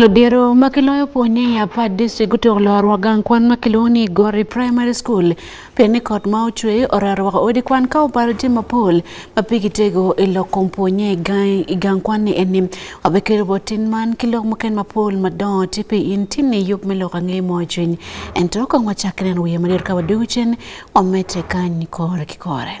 Lodhiero ma kiloyo po ni apad district gutuk lor wagang kwan ma kilwongo ni Gori Primary School pe ni kot ma ochwe oraro wako odi kwan ka obaro tye mapol ma pe gitego i lok kom po nye i gang kwan ni eni wabe kelo bot tin man ki lok muken mapol madongo tye pe in tin ni yub me lok ange mo cwiny ento kong wacakke neno wiye madit ka wadugu cen wamete kany kore ki kore.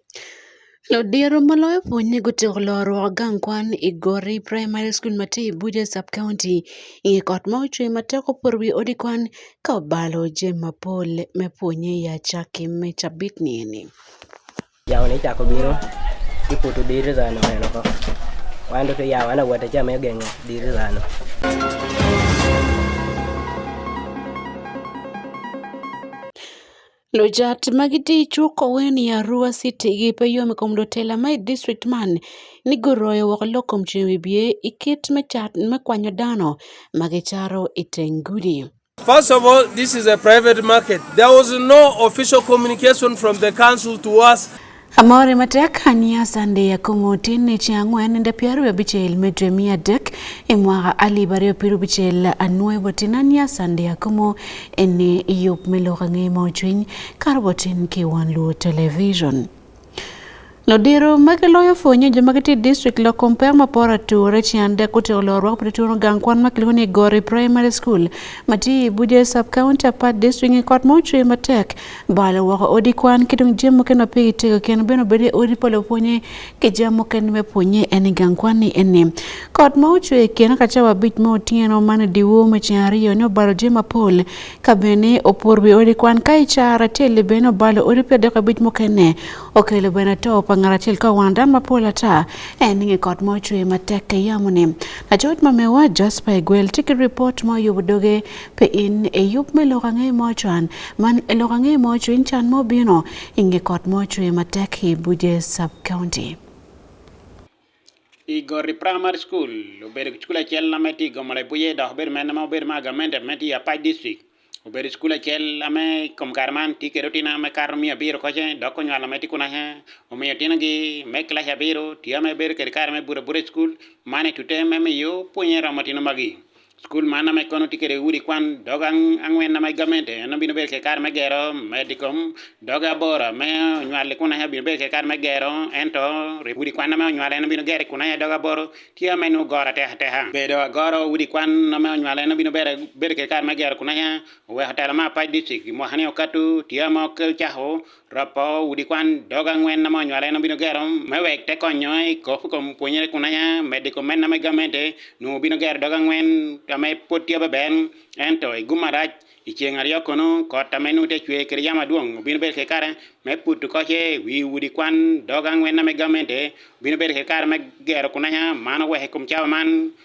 Lodiro maloyo puonj gutego lorwa gang kwan igori primary school mati Abuja sub county ing'e kot ma ochwe matek opor wi odi kwan ka obalo je mapol me puonye ya chaki me chabit nini. Yawo ne chako biro iputo dir zano neno ko. Wando to yawo ana wata chama geng'o dir zano. Lo jat ma giti cu kowe ni Arua citi gi pe yom i kom lutela ma i distric man ni guroyo woko lok kom ceng wibye i kit me cat me kwanyo dano ma gicato i teng gudi. First of all, this is a private market. There was no official communication from the council to us. Amore matek ania sande ya komoti ni chi ang'wen nde piero abichel medre mia adek e mwaka alif ariyo piero abichel anwoyo botin ania sande ya komo ene yup meloka ng'e ma ochwiny kar botin ki wan luo television Nodiro magi loyo fonye jo magi ti district lo kompe ma pora ture chiande kuti olo rwak pati turo gang kwan ma kilugu ni Gori Primary School mati Buje Sub County Apart District kot mo chwe matek Balo woko odi kwan ki dong jami mukene pe itego kene bene obedo i odi pa lupwonye ki jami mukene me pwonye en i gang kwan ni eni kot ma ocwe kene ka cawa abic ma otyeno man idiwo me ceng aryo ni obalo jami mapol ka bene opur wi odi kwan ka i cara acel-li bene obalo odi pe adek abic mukene okelo bene to pa ngat acel ka wan dan mapol ata en inge kot ma ocwe matek ka yamoni lacoc ma mewa Jasper Egwel tye ki ripot ma oyubo doge pe in eyub me lok ange mo cwan man elok ange mo cwiny can mo bino inge kot mo cwe matek i buje sub county i gori primary school obedo school acel na me ti gomo le buje dok obedo mene ma obedo ma agamente me ti apai district obedo school acel ame kom kare man ti kede otina me kato miyo abiro koce dok onywalo me ti kuna he omiyo otina gi me class abiro ti ame bedo kede kare me bura bura school mane tute me miyo punye romo tino magi Skul man ma kono tye kwede udi kwan dog angwen ma gamente en obino bedo kekar me gero medicom dog aboro me onywali kun aye obino bedo kekar me gero ento udi kwan ma onywali en obino gero kun aye dog aboro tye ma nongo goro atek ateka bedo agoro udi kwan ma onywali en obino bedo kekar me gero kun aye oweko telo ma apac dicik mwaka ni okato tye ma ocako Ropo udi kwan dog angwen na mony wale no bino gero me wek te konyo i kop kom pwonyere kun anya med i komen na me gamente nu bino gero dog angwen ta me pot tya beben ento i gum arac i ceng aryo kono kot ta me nu te cwe kede yam adwong bino bedo ke kare me putu koce wi udi kwan dog angwen na me gamente bino bedo ke kare me gero kun anya mano wek i kom cawa man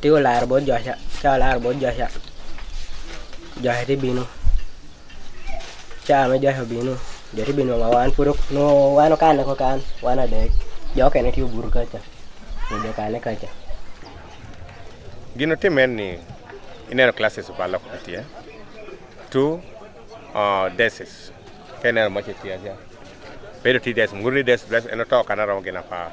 Ti ko laro bot Joaca, ca laro bot Joaca. Joaca ti bino. Ca me Joaca obino, jo ti bino nga wan puro, no wan okane ko kan, wan adek. Jo okene ti oburu kaca, jo jo kane kaca. Gino time en ni ineno classes pa loko kitie. Two uh, deses. Ka ineno moche tiya ja. Bedo ti des, mguru ni des, des en otoka na romo gina pa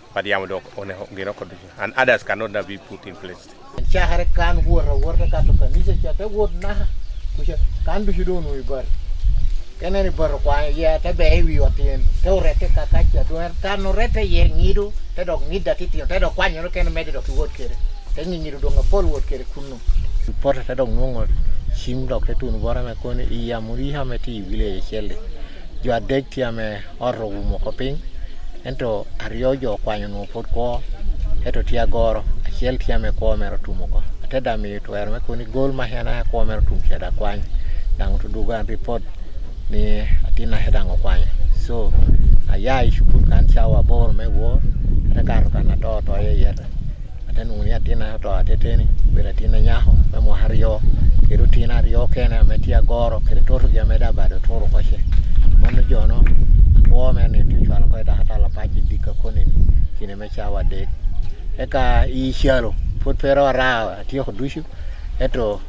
But yamo dok one ngino kod and others cannot be put in place. Chahare kan wora wora ka to kan nise chate wod na kusha kan du shido no ibar. Kene ni bar kwa ya te be ewi otien te orete ka ka cha do kan orete ye ngido te dok ngida titio te dok kwanyo kene mede dok wod kere. Te ngido do ngapol wod kere kunu. Porta te dok ngongo chim dok te tun wora me kone iya muriha me ti vile chele. jo adek tye me ot owumo ko piny ento aryo jo okwanyo nwo pud kwo ento tye agoro acel tye me kwo mero tumo ko ate da miyo twero me kuni gol ma hena ya kwo mero tum keda kwany dang to duga report ni atina hedang okwanyo so aya i shukul kan cawa bor me wor ate kato kan ato to ye yete Ate nung ya tina to ate teni bera tina nyaho me mo hario kedu tina rio kene me tia goro kedu toru ya me da bado toru koshe manu jono wo me ni tu chwalo ko da hata la pachi dika koni ni kine me chawa de eka i shalo put pero ra ati ko dushu eto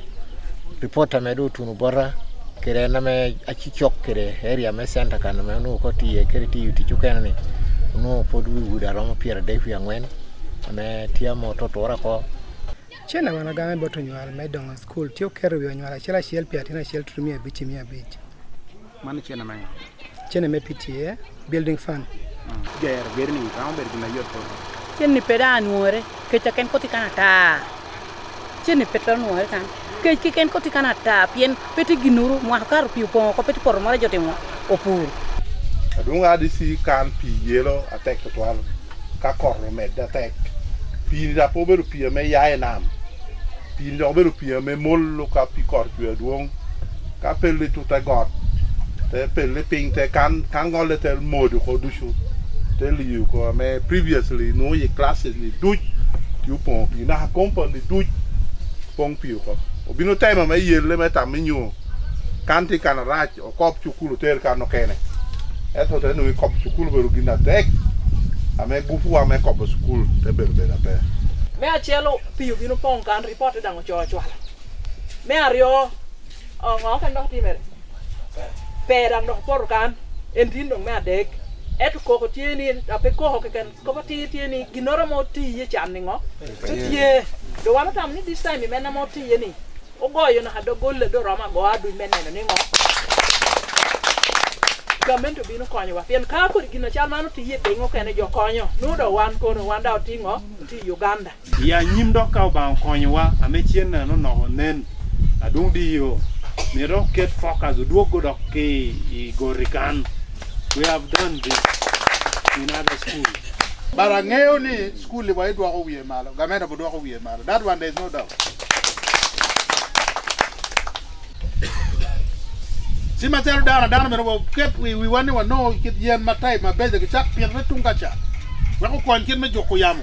reporter me do tunu bora kere na me achi chok kere area me center kan me nu ko ti kere ti ti chukene ni nu pod wi wuda romo pier de fi angwen ne tia moto twora ko Chieng' na mano game boto nyual me dongo skul tiyo kero wi onyual achiel achiel pia tin achiel turu mia abich mia abich. Mano chieng' na Chieng' me PTA building fund. Ger ger ni kama ber gina yot ko. Chieng' ni peda anuore kecha ken koti kana ta. Ceni pe twero nwoke kan. Kec keken koti kan ata pien pe ti ginuru mwaka karo pi opongo ko pe ti poto moro joti ngo opur. Adwong ADC kan pi yelo atek tutwal ka kot omedde atek. Pi ni da po obedo pi ame ya i nam. Pi ni dok obedo pi ame molo ka pi kot cwe adwong. ka pele tu te got te pele piny te kan kan gole te modu ko duchu te liu ko me previously no ye classes ni duch yu pon pi na compound ni duch pon pi ko obino tema me yele me tam mi nyu kan ti kan rach o kop chukulu ter kan no kene eto te no kop chukulu beru gina tek ame gufu wa me kop school te beru bera pe me achiel piyo bino pong kan ripot idang' ochoyo chwala Me aryo, ongo ka nok timere. Pera nok poro kan, en tin dong me adek. Eto koko tye ni, ape koko keken, koko tye tye ni, ginoro mo tiye can ni ngo? Tye. Do wan otam ni this time imena mo tiye ni, ogoyo na hado golle do roma go adu imeneno ni ngo? Gamen to bino konyowa. Pien ka kod gina chal mano tiye piny okene jo konyo. Nudo wan kono, wan da otingo, ti Uganda. ya nyim dok ka obang konyowa ame cien neno noko nen adung di yo mito ket focus odwog go dok ki i gori kan we have done this in other school but ang'eyo ni school wa idwoko wiye malo gamenda bo dwoko wiye malo that one there is no doubt si macalo dano dano meno wa ket wi wiwa ni wano kit yen ma type ma beje ki cak pire tung ka ca weko kony kit me juko yamo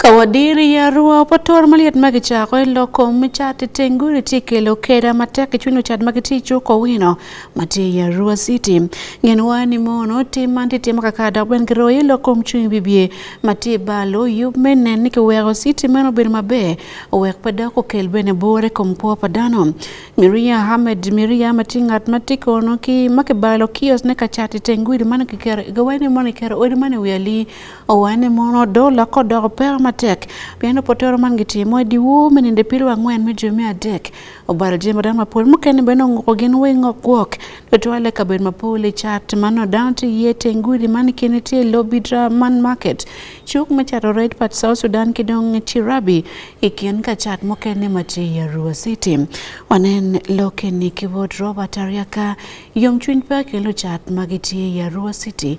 Ka wadiri yarwa pa tur maliet ma kicako i lok kom me cat iteng gudi tye kelo keda matek i cwiny lucat ma gitye i cuk owino ma tye i yarwa city ngen wa ni mono tim man tye timo kaka dok bene giroyo i lok kom cung i bibye ma tye i balo yub me nen ni kiweko city meno obedo maber wek pe dok okel bene bor i kom kwo pa dano miria hamed miria ma tye ngat ma tye kono ki ma kibalo kios ne ka cat iteng gudi mano kiketo gawa ni mono kiketo odi mano i wi ali Owen e mon Odola kodoko pera matek pien opotero man gitimo ediwo menende pilo ang'wen me jwe mia adek obaro jembe dan mapol mukene bene ong'uko gin weng' okwok dotwale kabed mapol e chat mano down to yie tengudi man kene tie lobby man market chuk me chato red part South Sudan kidong chirabi ikien ka chat mukene mati ya Rua City wanen loke ni kibot Robert Ariaka yom chuny pa kelo chat magitie ya Rua City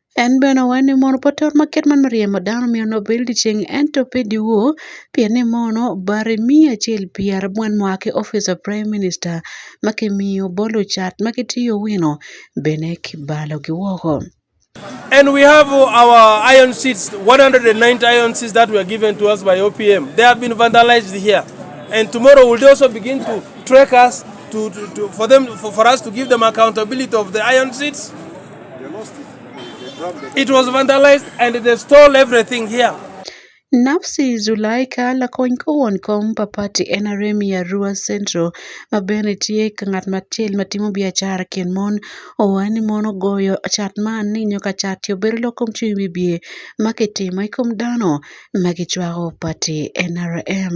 En bene oweni mono pot ot ma ket man riemo dano myero onongo obed licen ento pe dyewor pien ni mono bati miyo acel pi arabwen mua ki opic pa prime minister ma ki miyo bolo cat ma ki tiyo wino bene ki balogi woko. And we have our iron seats, 190 iron seats that were given to us by OPM. They have been vandalized here. And tomorrow we'll also begin to track us to, to, to for them for, for us to give them accountability of the iron seats. It was vandalized and they stole everything here. Nafsi Zulaika lakony kowon kom papati en Aremi Arua Central ma bende tye ka ngat machiel ma timo biacara kin mon owacho ni mon ogoyo cat man ni nyo ka cat yo bedo lok kom cwiny bibye ma kitimo i kom dano ma gicwako pati NRM.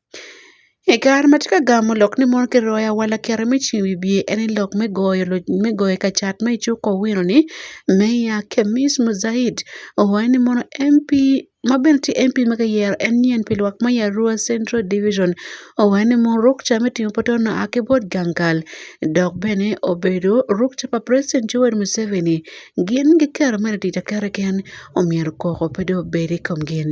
Kare ma atye ka gamo lok ni mono kiro waya wala kero me ceng wiye en ni lok me goyo loc me goyo ka cat ma icuko wino ni Meya Kemic Muzahid owaco ni mono MP ma bene tye MP ma kiyero en nyen pi lwak me i Arua Central Division owaco ni mono ruk ca me tingo pwote onongo oa ki bot Gangal dok bene obedo ruk ca pa preciden Yoweri Museveni gin giketo mere tic aketa keken omyero koko pe dong obed i kom gin.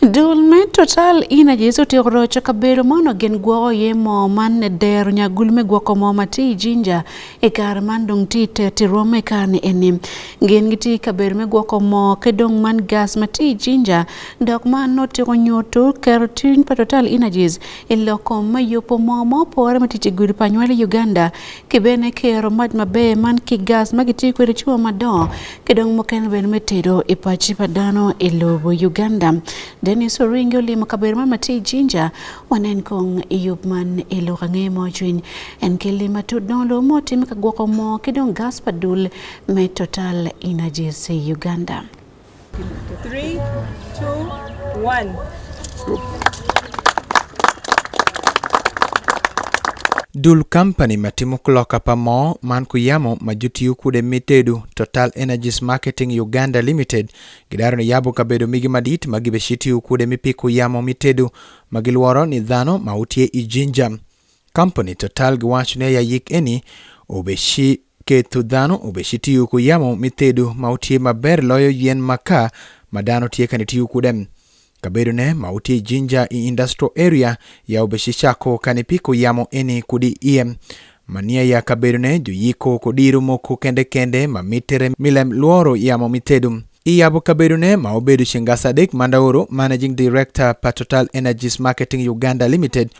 Dul me total ina Jesu ti rocho kabedo mono gen gwoko ye mo man ne dero nya gul me gwoko mo ma ti jinja e kar man dong ti te ti rome kar ni enim gen gi ti kabedo me gwoko mo ke dong man gas ma ti jinja dok ma no ti ko nyoto kero tin pa total ina Jesu e loko ma yopo mo mo pore ma ti ti gudi pa nywali Uganda ke bene kero maj ma be man ki gas ma ki ti kwedo chua ma do Kidong moken wer metedo e pachi pa dano e lobo Uganda. Dennis Oringi olimo kaber ma mati jinja wanen kong e yup man e lo kange mo chwin. En keli matud don lo mo tim ka gwoko mo kidong gas pa dul me total energies e Uganda. Three, two, one. Dul company matimo kloka pa moo man kuyamo ma jotiyo kude mitedu Total Energies Marketing Uganda Limited gidaro ni yabo kabedo migi madit ma gibeshi tiyo kude mipiko yamo mitedu ma gilworo ni dhano ma utye i Jinja. Kampuni Total giwacho ni ayayik eni obeshi keto dhano obeshi tiyo ku yamo me tedo ma otye maber loyo yen maka ma dano tye kani tiyo kude. Kabedone ma otye i Jinja i Industrial Area ya obeshi cako kani piko yamo eni kudi iye. Ma niya ya kabedone juyiko kodiro moko kende kende ma mitere mi lem lworo yamo me tedo. I yabo kabedone ma obedo ceng gasa adek Mandaoro, Managing Director pa Total Energies Marketing Uganda Limited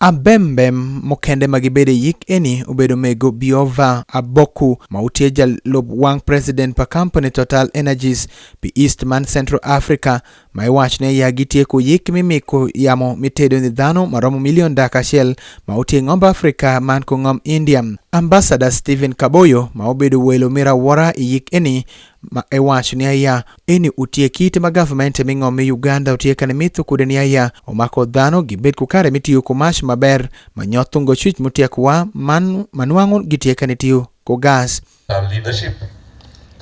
Abembem mukende ma gibede yik eni obedo mego Biova Aboku ma utye jalub wang president pa kampuni Total Energies pi East man Central Africa ma iwaco ni aya gitye ku yik mi miko yamo mi tedo ni dhano ma romo milion daka acel ma utye ingomb Africa man ku ngom India. Ambassador Stephen Kaboyo ma obedo welo mira wora iyik eni ma e wacho ni aya eni utie kite ma government e ming'om mi Uganda utie kane mitho kude ni aya omako dhano gibed ku kare mitiyo ku mash maber ma nyothungo chwich mutie kuwa man manwang'o gitie kane tiyo ku gas and leadership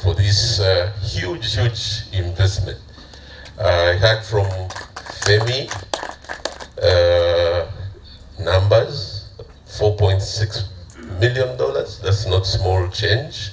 for this uh, huge, huge investment. I heard from FEMI uh, numbers, $4.6 million. That's not small change.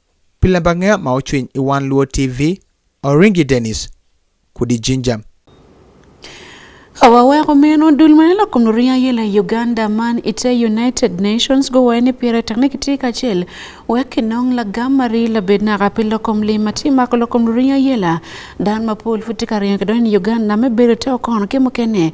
Pile bang'e ma ochwiny i One Luo TV, Oringi Dennis, kudi jinja. Awaweko meno dul ma nelo kom luria yela Uganda man ite United Nations go wene pire takne kiti kachel wek nong la gamari la bed na kapi lo kom li mati ma kolo kom luria yela dan ma pol futi kariyo ke don Uganda me bere to kon ke mukene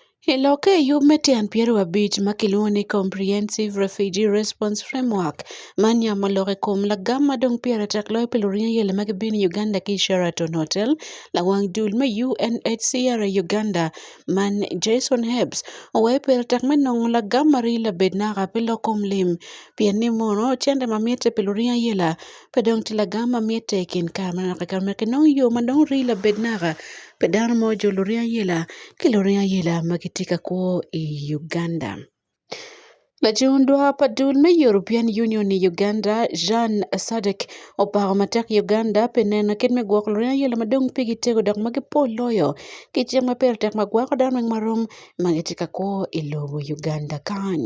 E lok e yub me tiend piero abich ma kiluongo ni Comprehensive Refugee Response Framework mar nya molok e kom lagam madong piero atak loyo pelo rinya yele mag bin Uganda ki Sheraton Hotel la wang dul me UNHCR e Uganda man Jason Hebs owayo piero atak me nongo lagam mar ila bed naka pi lok kom lim pien ni mono cente mamite pelo rinya yela pe dong tye lagam ma mitte i kin kare ma naka i kare ma naka inongo yo ma dong rii labed naka pi dano mo jo luring ayela ki luring ayela ma gitye ka kwo i Uganda. Lacung dwar pa dul me European Union i Uganda Jan Sadek opako matek Uganda pi neno kit me gwoko luring ayela ma dong pigi tego dok ma gipol loyo ki cik ma pire tek ma gwako dano weng ma rom ma gitye ka kwo i lobo Uganda kany.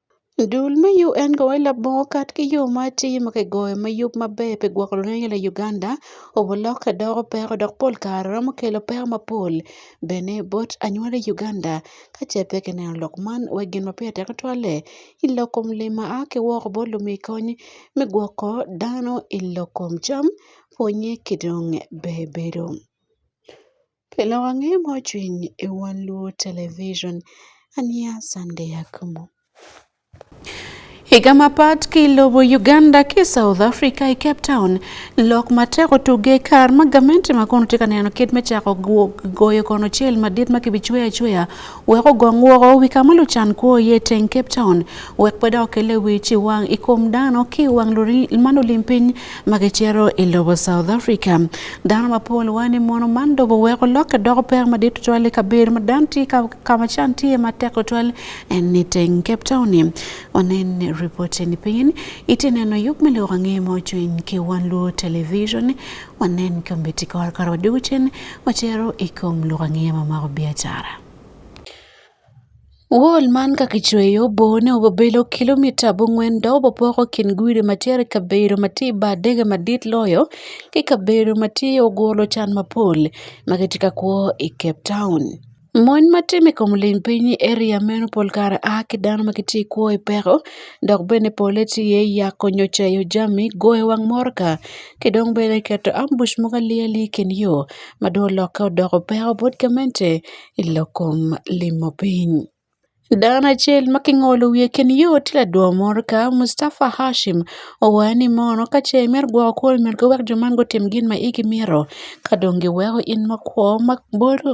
Dul me UN gowe labongo kat ki yo ma atir ma kigoyo me yub maber pi gwoko lweny i Uganda obo lokke doko peko dok pol kare romo kelo peko mapol bene bot anyuala i Uganda ka ce pe kineno lok man wek gin ma pire teke twalle i lok kom lim ma a ki woko bot lumi kony me gwoko dano i lok kom cam pwonnye ki dong bebedo. Kendo wang'e mojwiny e wan Luo Television. Ania Sunday Akumu. Higa mapat kilobo Uganda ki South Africa i Cape Town lok matek otuge kar ma gamente ma kono tye ka neno kit me cako goyo kono cel madit ma kibicweyo acweya wek ogong woko wi ka ma lucan kwo iye teng Cape Town wek pe dok kele wic iwang i kom dano ki wang ma lulim piny ma gicito i lobo South Africa. Dano mapol wayo ni mono man dobo weko lokke doko pek madit tutwal i kabedo ma dan tye ka ma can tye matek tutwal en ni teng Cape Town ni wanen ripoti ni piny itye neno yub me lok ange ma ocwiny ki wan luo television wanen kombedde kor kare wadwogo cen watero i kom lok angeya ma mako biacara Wol man ka kicweyo bone obedo kilomita abongwen dok obopoko kin gudi ma tye i kabedo ma tye i bar dege madit loyo ki kabedo ma tye oguro can mapol ma kitye ka kwo i Cape Town. Mon ma timi i kom lim piny i eria meno pol kare a ki dano ma gitye i kwo i peko dok bene pole tye iye yako nyo cayo jami, goyo wang motoka ki dong bene keto ambuc mogo ali ali i kin yo ma dong olokke odoko peko bot gamente i lok kom limo piny. Dano acel ma kingolo wiye i kin yo tye ladwo motoka Mustafa Hashim owaco ni mono ka ce imito gwoko kwoni myero ki wek jo man gutim gin ma igi mito ka dong giweko in makwo ma bolo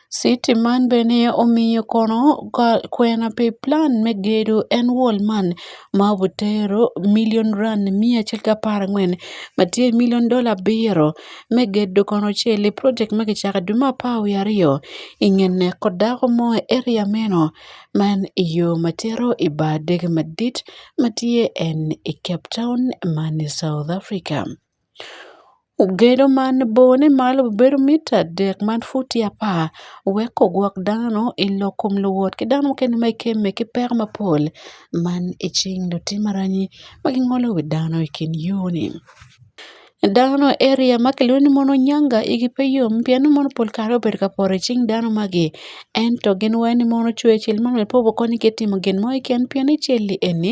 City man bene omiyo kono kwena pi plan me gedo en wall man ma obutero million rand miya achiel kapar ang'wen ma tye million dollar abiro me gedo kono cel i project ma kicaka dwe me apar wiye aryo i nge neko dako mo i area meno man i yo ma tito i bar dege madit ma tye en i Cape Town man i South Africa. Ogedo man bone malo bedo mita adek man futi apar weko ogwok dano i lok kom luwot ki dano mukene ma ikemme ki peko mapol man i cing lutim aranyi ma gingolo wi dano i kin yo-ni dano i eriya ma kilwongo ni mono nyanga igi pe yom pien mono pol kare obedo ka poto i cing dano magi ento gin weny ni mono cwer cel ma nongo pe obokonygi ki timo gin mo keken pien i cal-li eni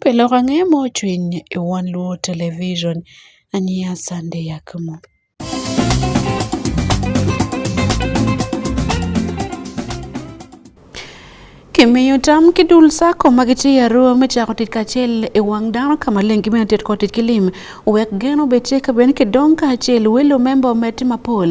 Pile ok ang'eyo ma ochwiny e wang' luo television an yaah sande yakhmo. Kimiyo tam kidul sako ma gitiyo aroo michako tit kaachiel e wang' dano kama lengi mene tit kod tit kilim wek geno betie ka ben kidong kaachiel welo member ometi mapol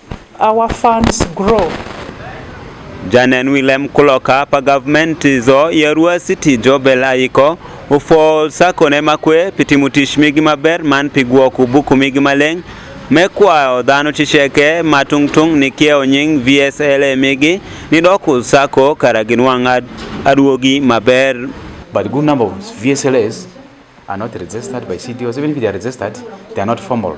our funds grow. Janen Willem Kuloka pa government zo yerua city jobela iko ufo sako ne makwe pitimu tich migi maber man pigwo kubuku migi maleng me kwayo dhano ticheke ma tung'tung' ni kiewo nying VSLA migi ni doku sako kara ginwang' aduogi maber. But good number of VSLAs are not registered by CDOs. Even if they are registered, they are not formal.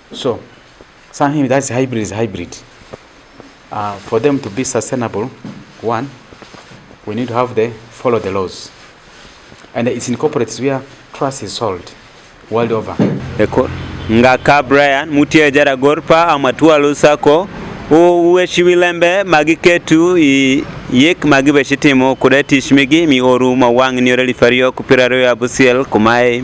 So, something that's hybrid is hybrid. Uh, for them to be sustainable, one, we need to have the follow the laws. And it's incorporates where trust is sold world over. Eko ngaka Brian mutie jara gorpa amatua lusako uwe shiwilembe magiketu i yek magi be shitimo kuda tich migi mi oru ma wang' ni oreli fario kupiraro ya busiel kumae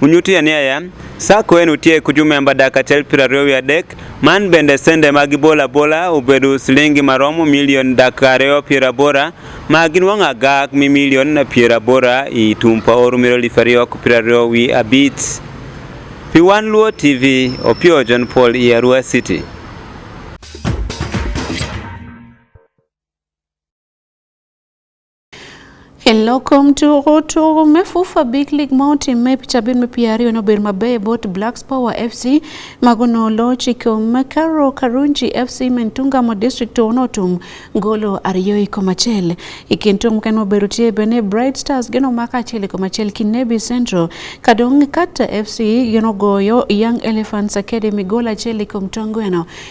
Unyuti ane aya, sacco en utie kuju memba dak achiel piero ariyo wi adek, man bende sende mag ibolo abola ubedo silingi maromo milion dak ariyo piero abora ma ginwang'a gak mi milion piero abora i tumpa oru miro elfu ariyo piero ariyo wi abich. Pi wan Luo TV, Opio John Paul i Arua City. Hello kom tugo tugo me fufa big league ma otimme picha bin me piero ariyo nobedo maber bot blacks power fc mago nolo chiko makaro karunji fc mentungamo district to notum golo ariyo i koma achiel i kin tum mukene mobedo tye bene bright stars gin omako achiel i koma achiel ki nebi central ka dong kata fc gin ogoyo young elephants academy golo achiel i kom tongweno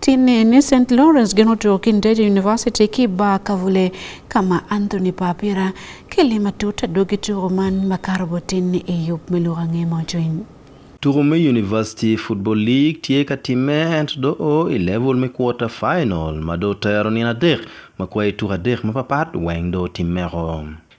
Tine ni St. Lawrence geno to Kinderi University ki ba kavule kama Anthony Papira kele matuta dogi tugo man makarbo tin e yup meluga ngemo join. Tugo me University Football League tye ka timme ento do o i level me quarter final ma do tero nino adek ma kwayo tuko adek mapapat weng do timmeko.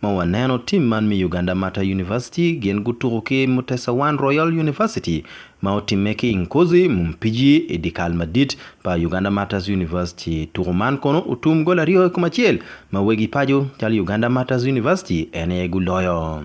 Ma waneno tim man me Uganda Martyr University gin gutuko ki Mutesa One Royal University ma otimme ki i Nkozi mu Mpiji i dikal madit pa Uganda Martyrs University. Tuko man kono otum gol aryo i kom acel ma wegi paco calo Uganda Martyrs University en aye guloyo.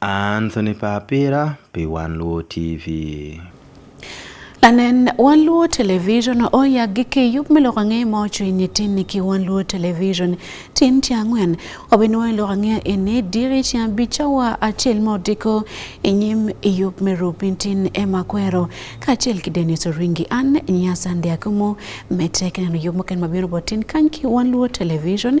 Anthony Papira pi Wan Luo TV. Anen Wan Luo Television oya gi kiyub mi loko ang'e ma ocho ini tin ni ki Wan Luo Television tin ti ang'wen obin wa loko ang'e ini diri ti abicha wa achiel ma odiko inyim iyub mi rupin tin ema kwero ka achiel ki Dennis Oringi an nyasa ndi akumu me tek neno yub moken mabiro botin kan ki Wan Luo Television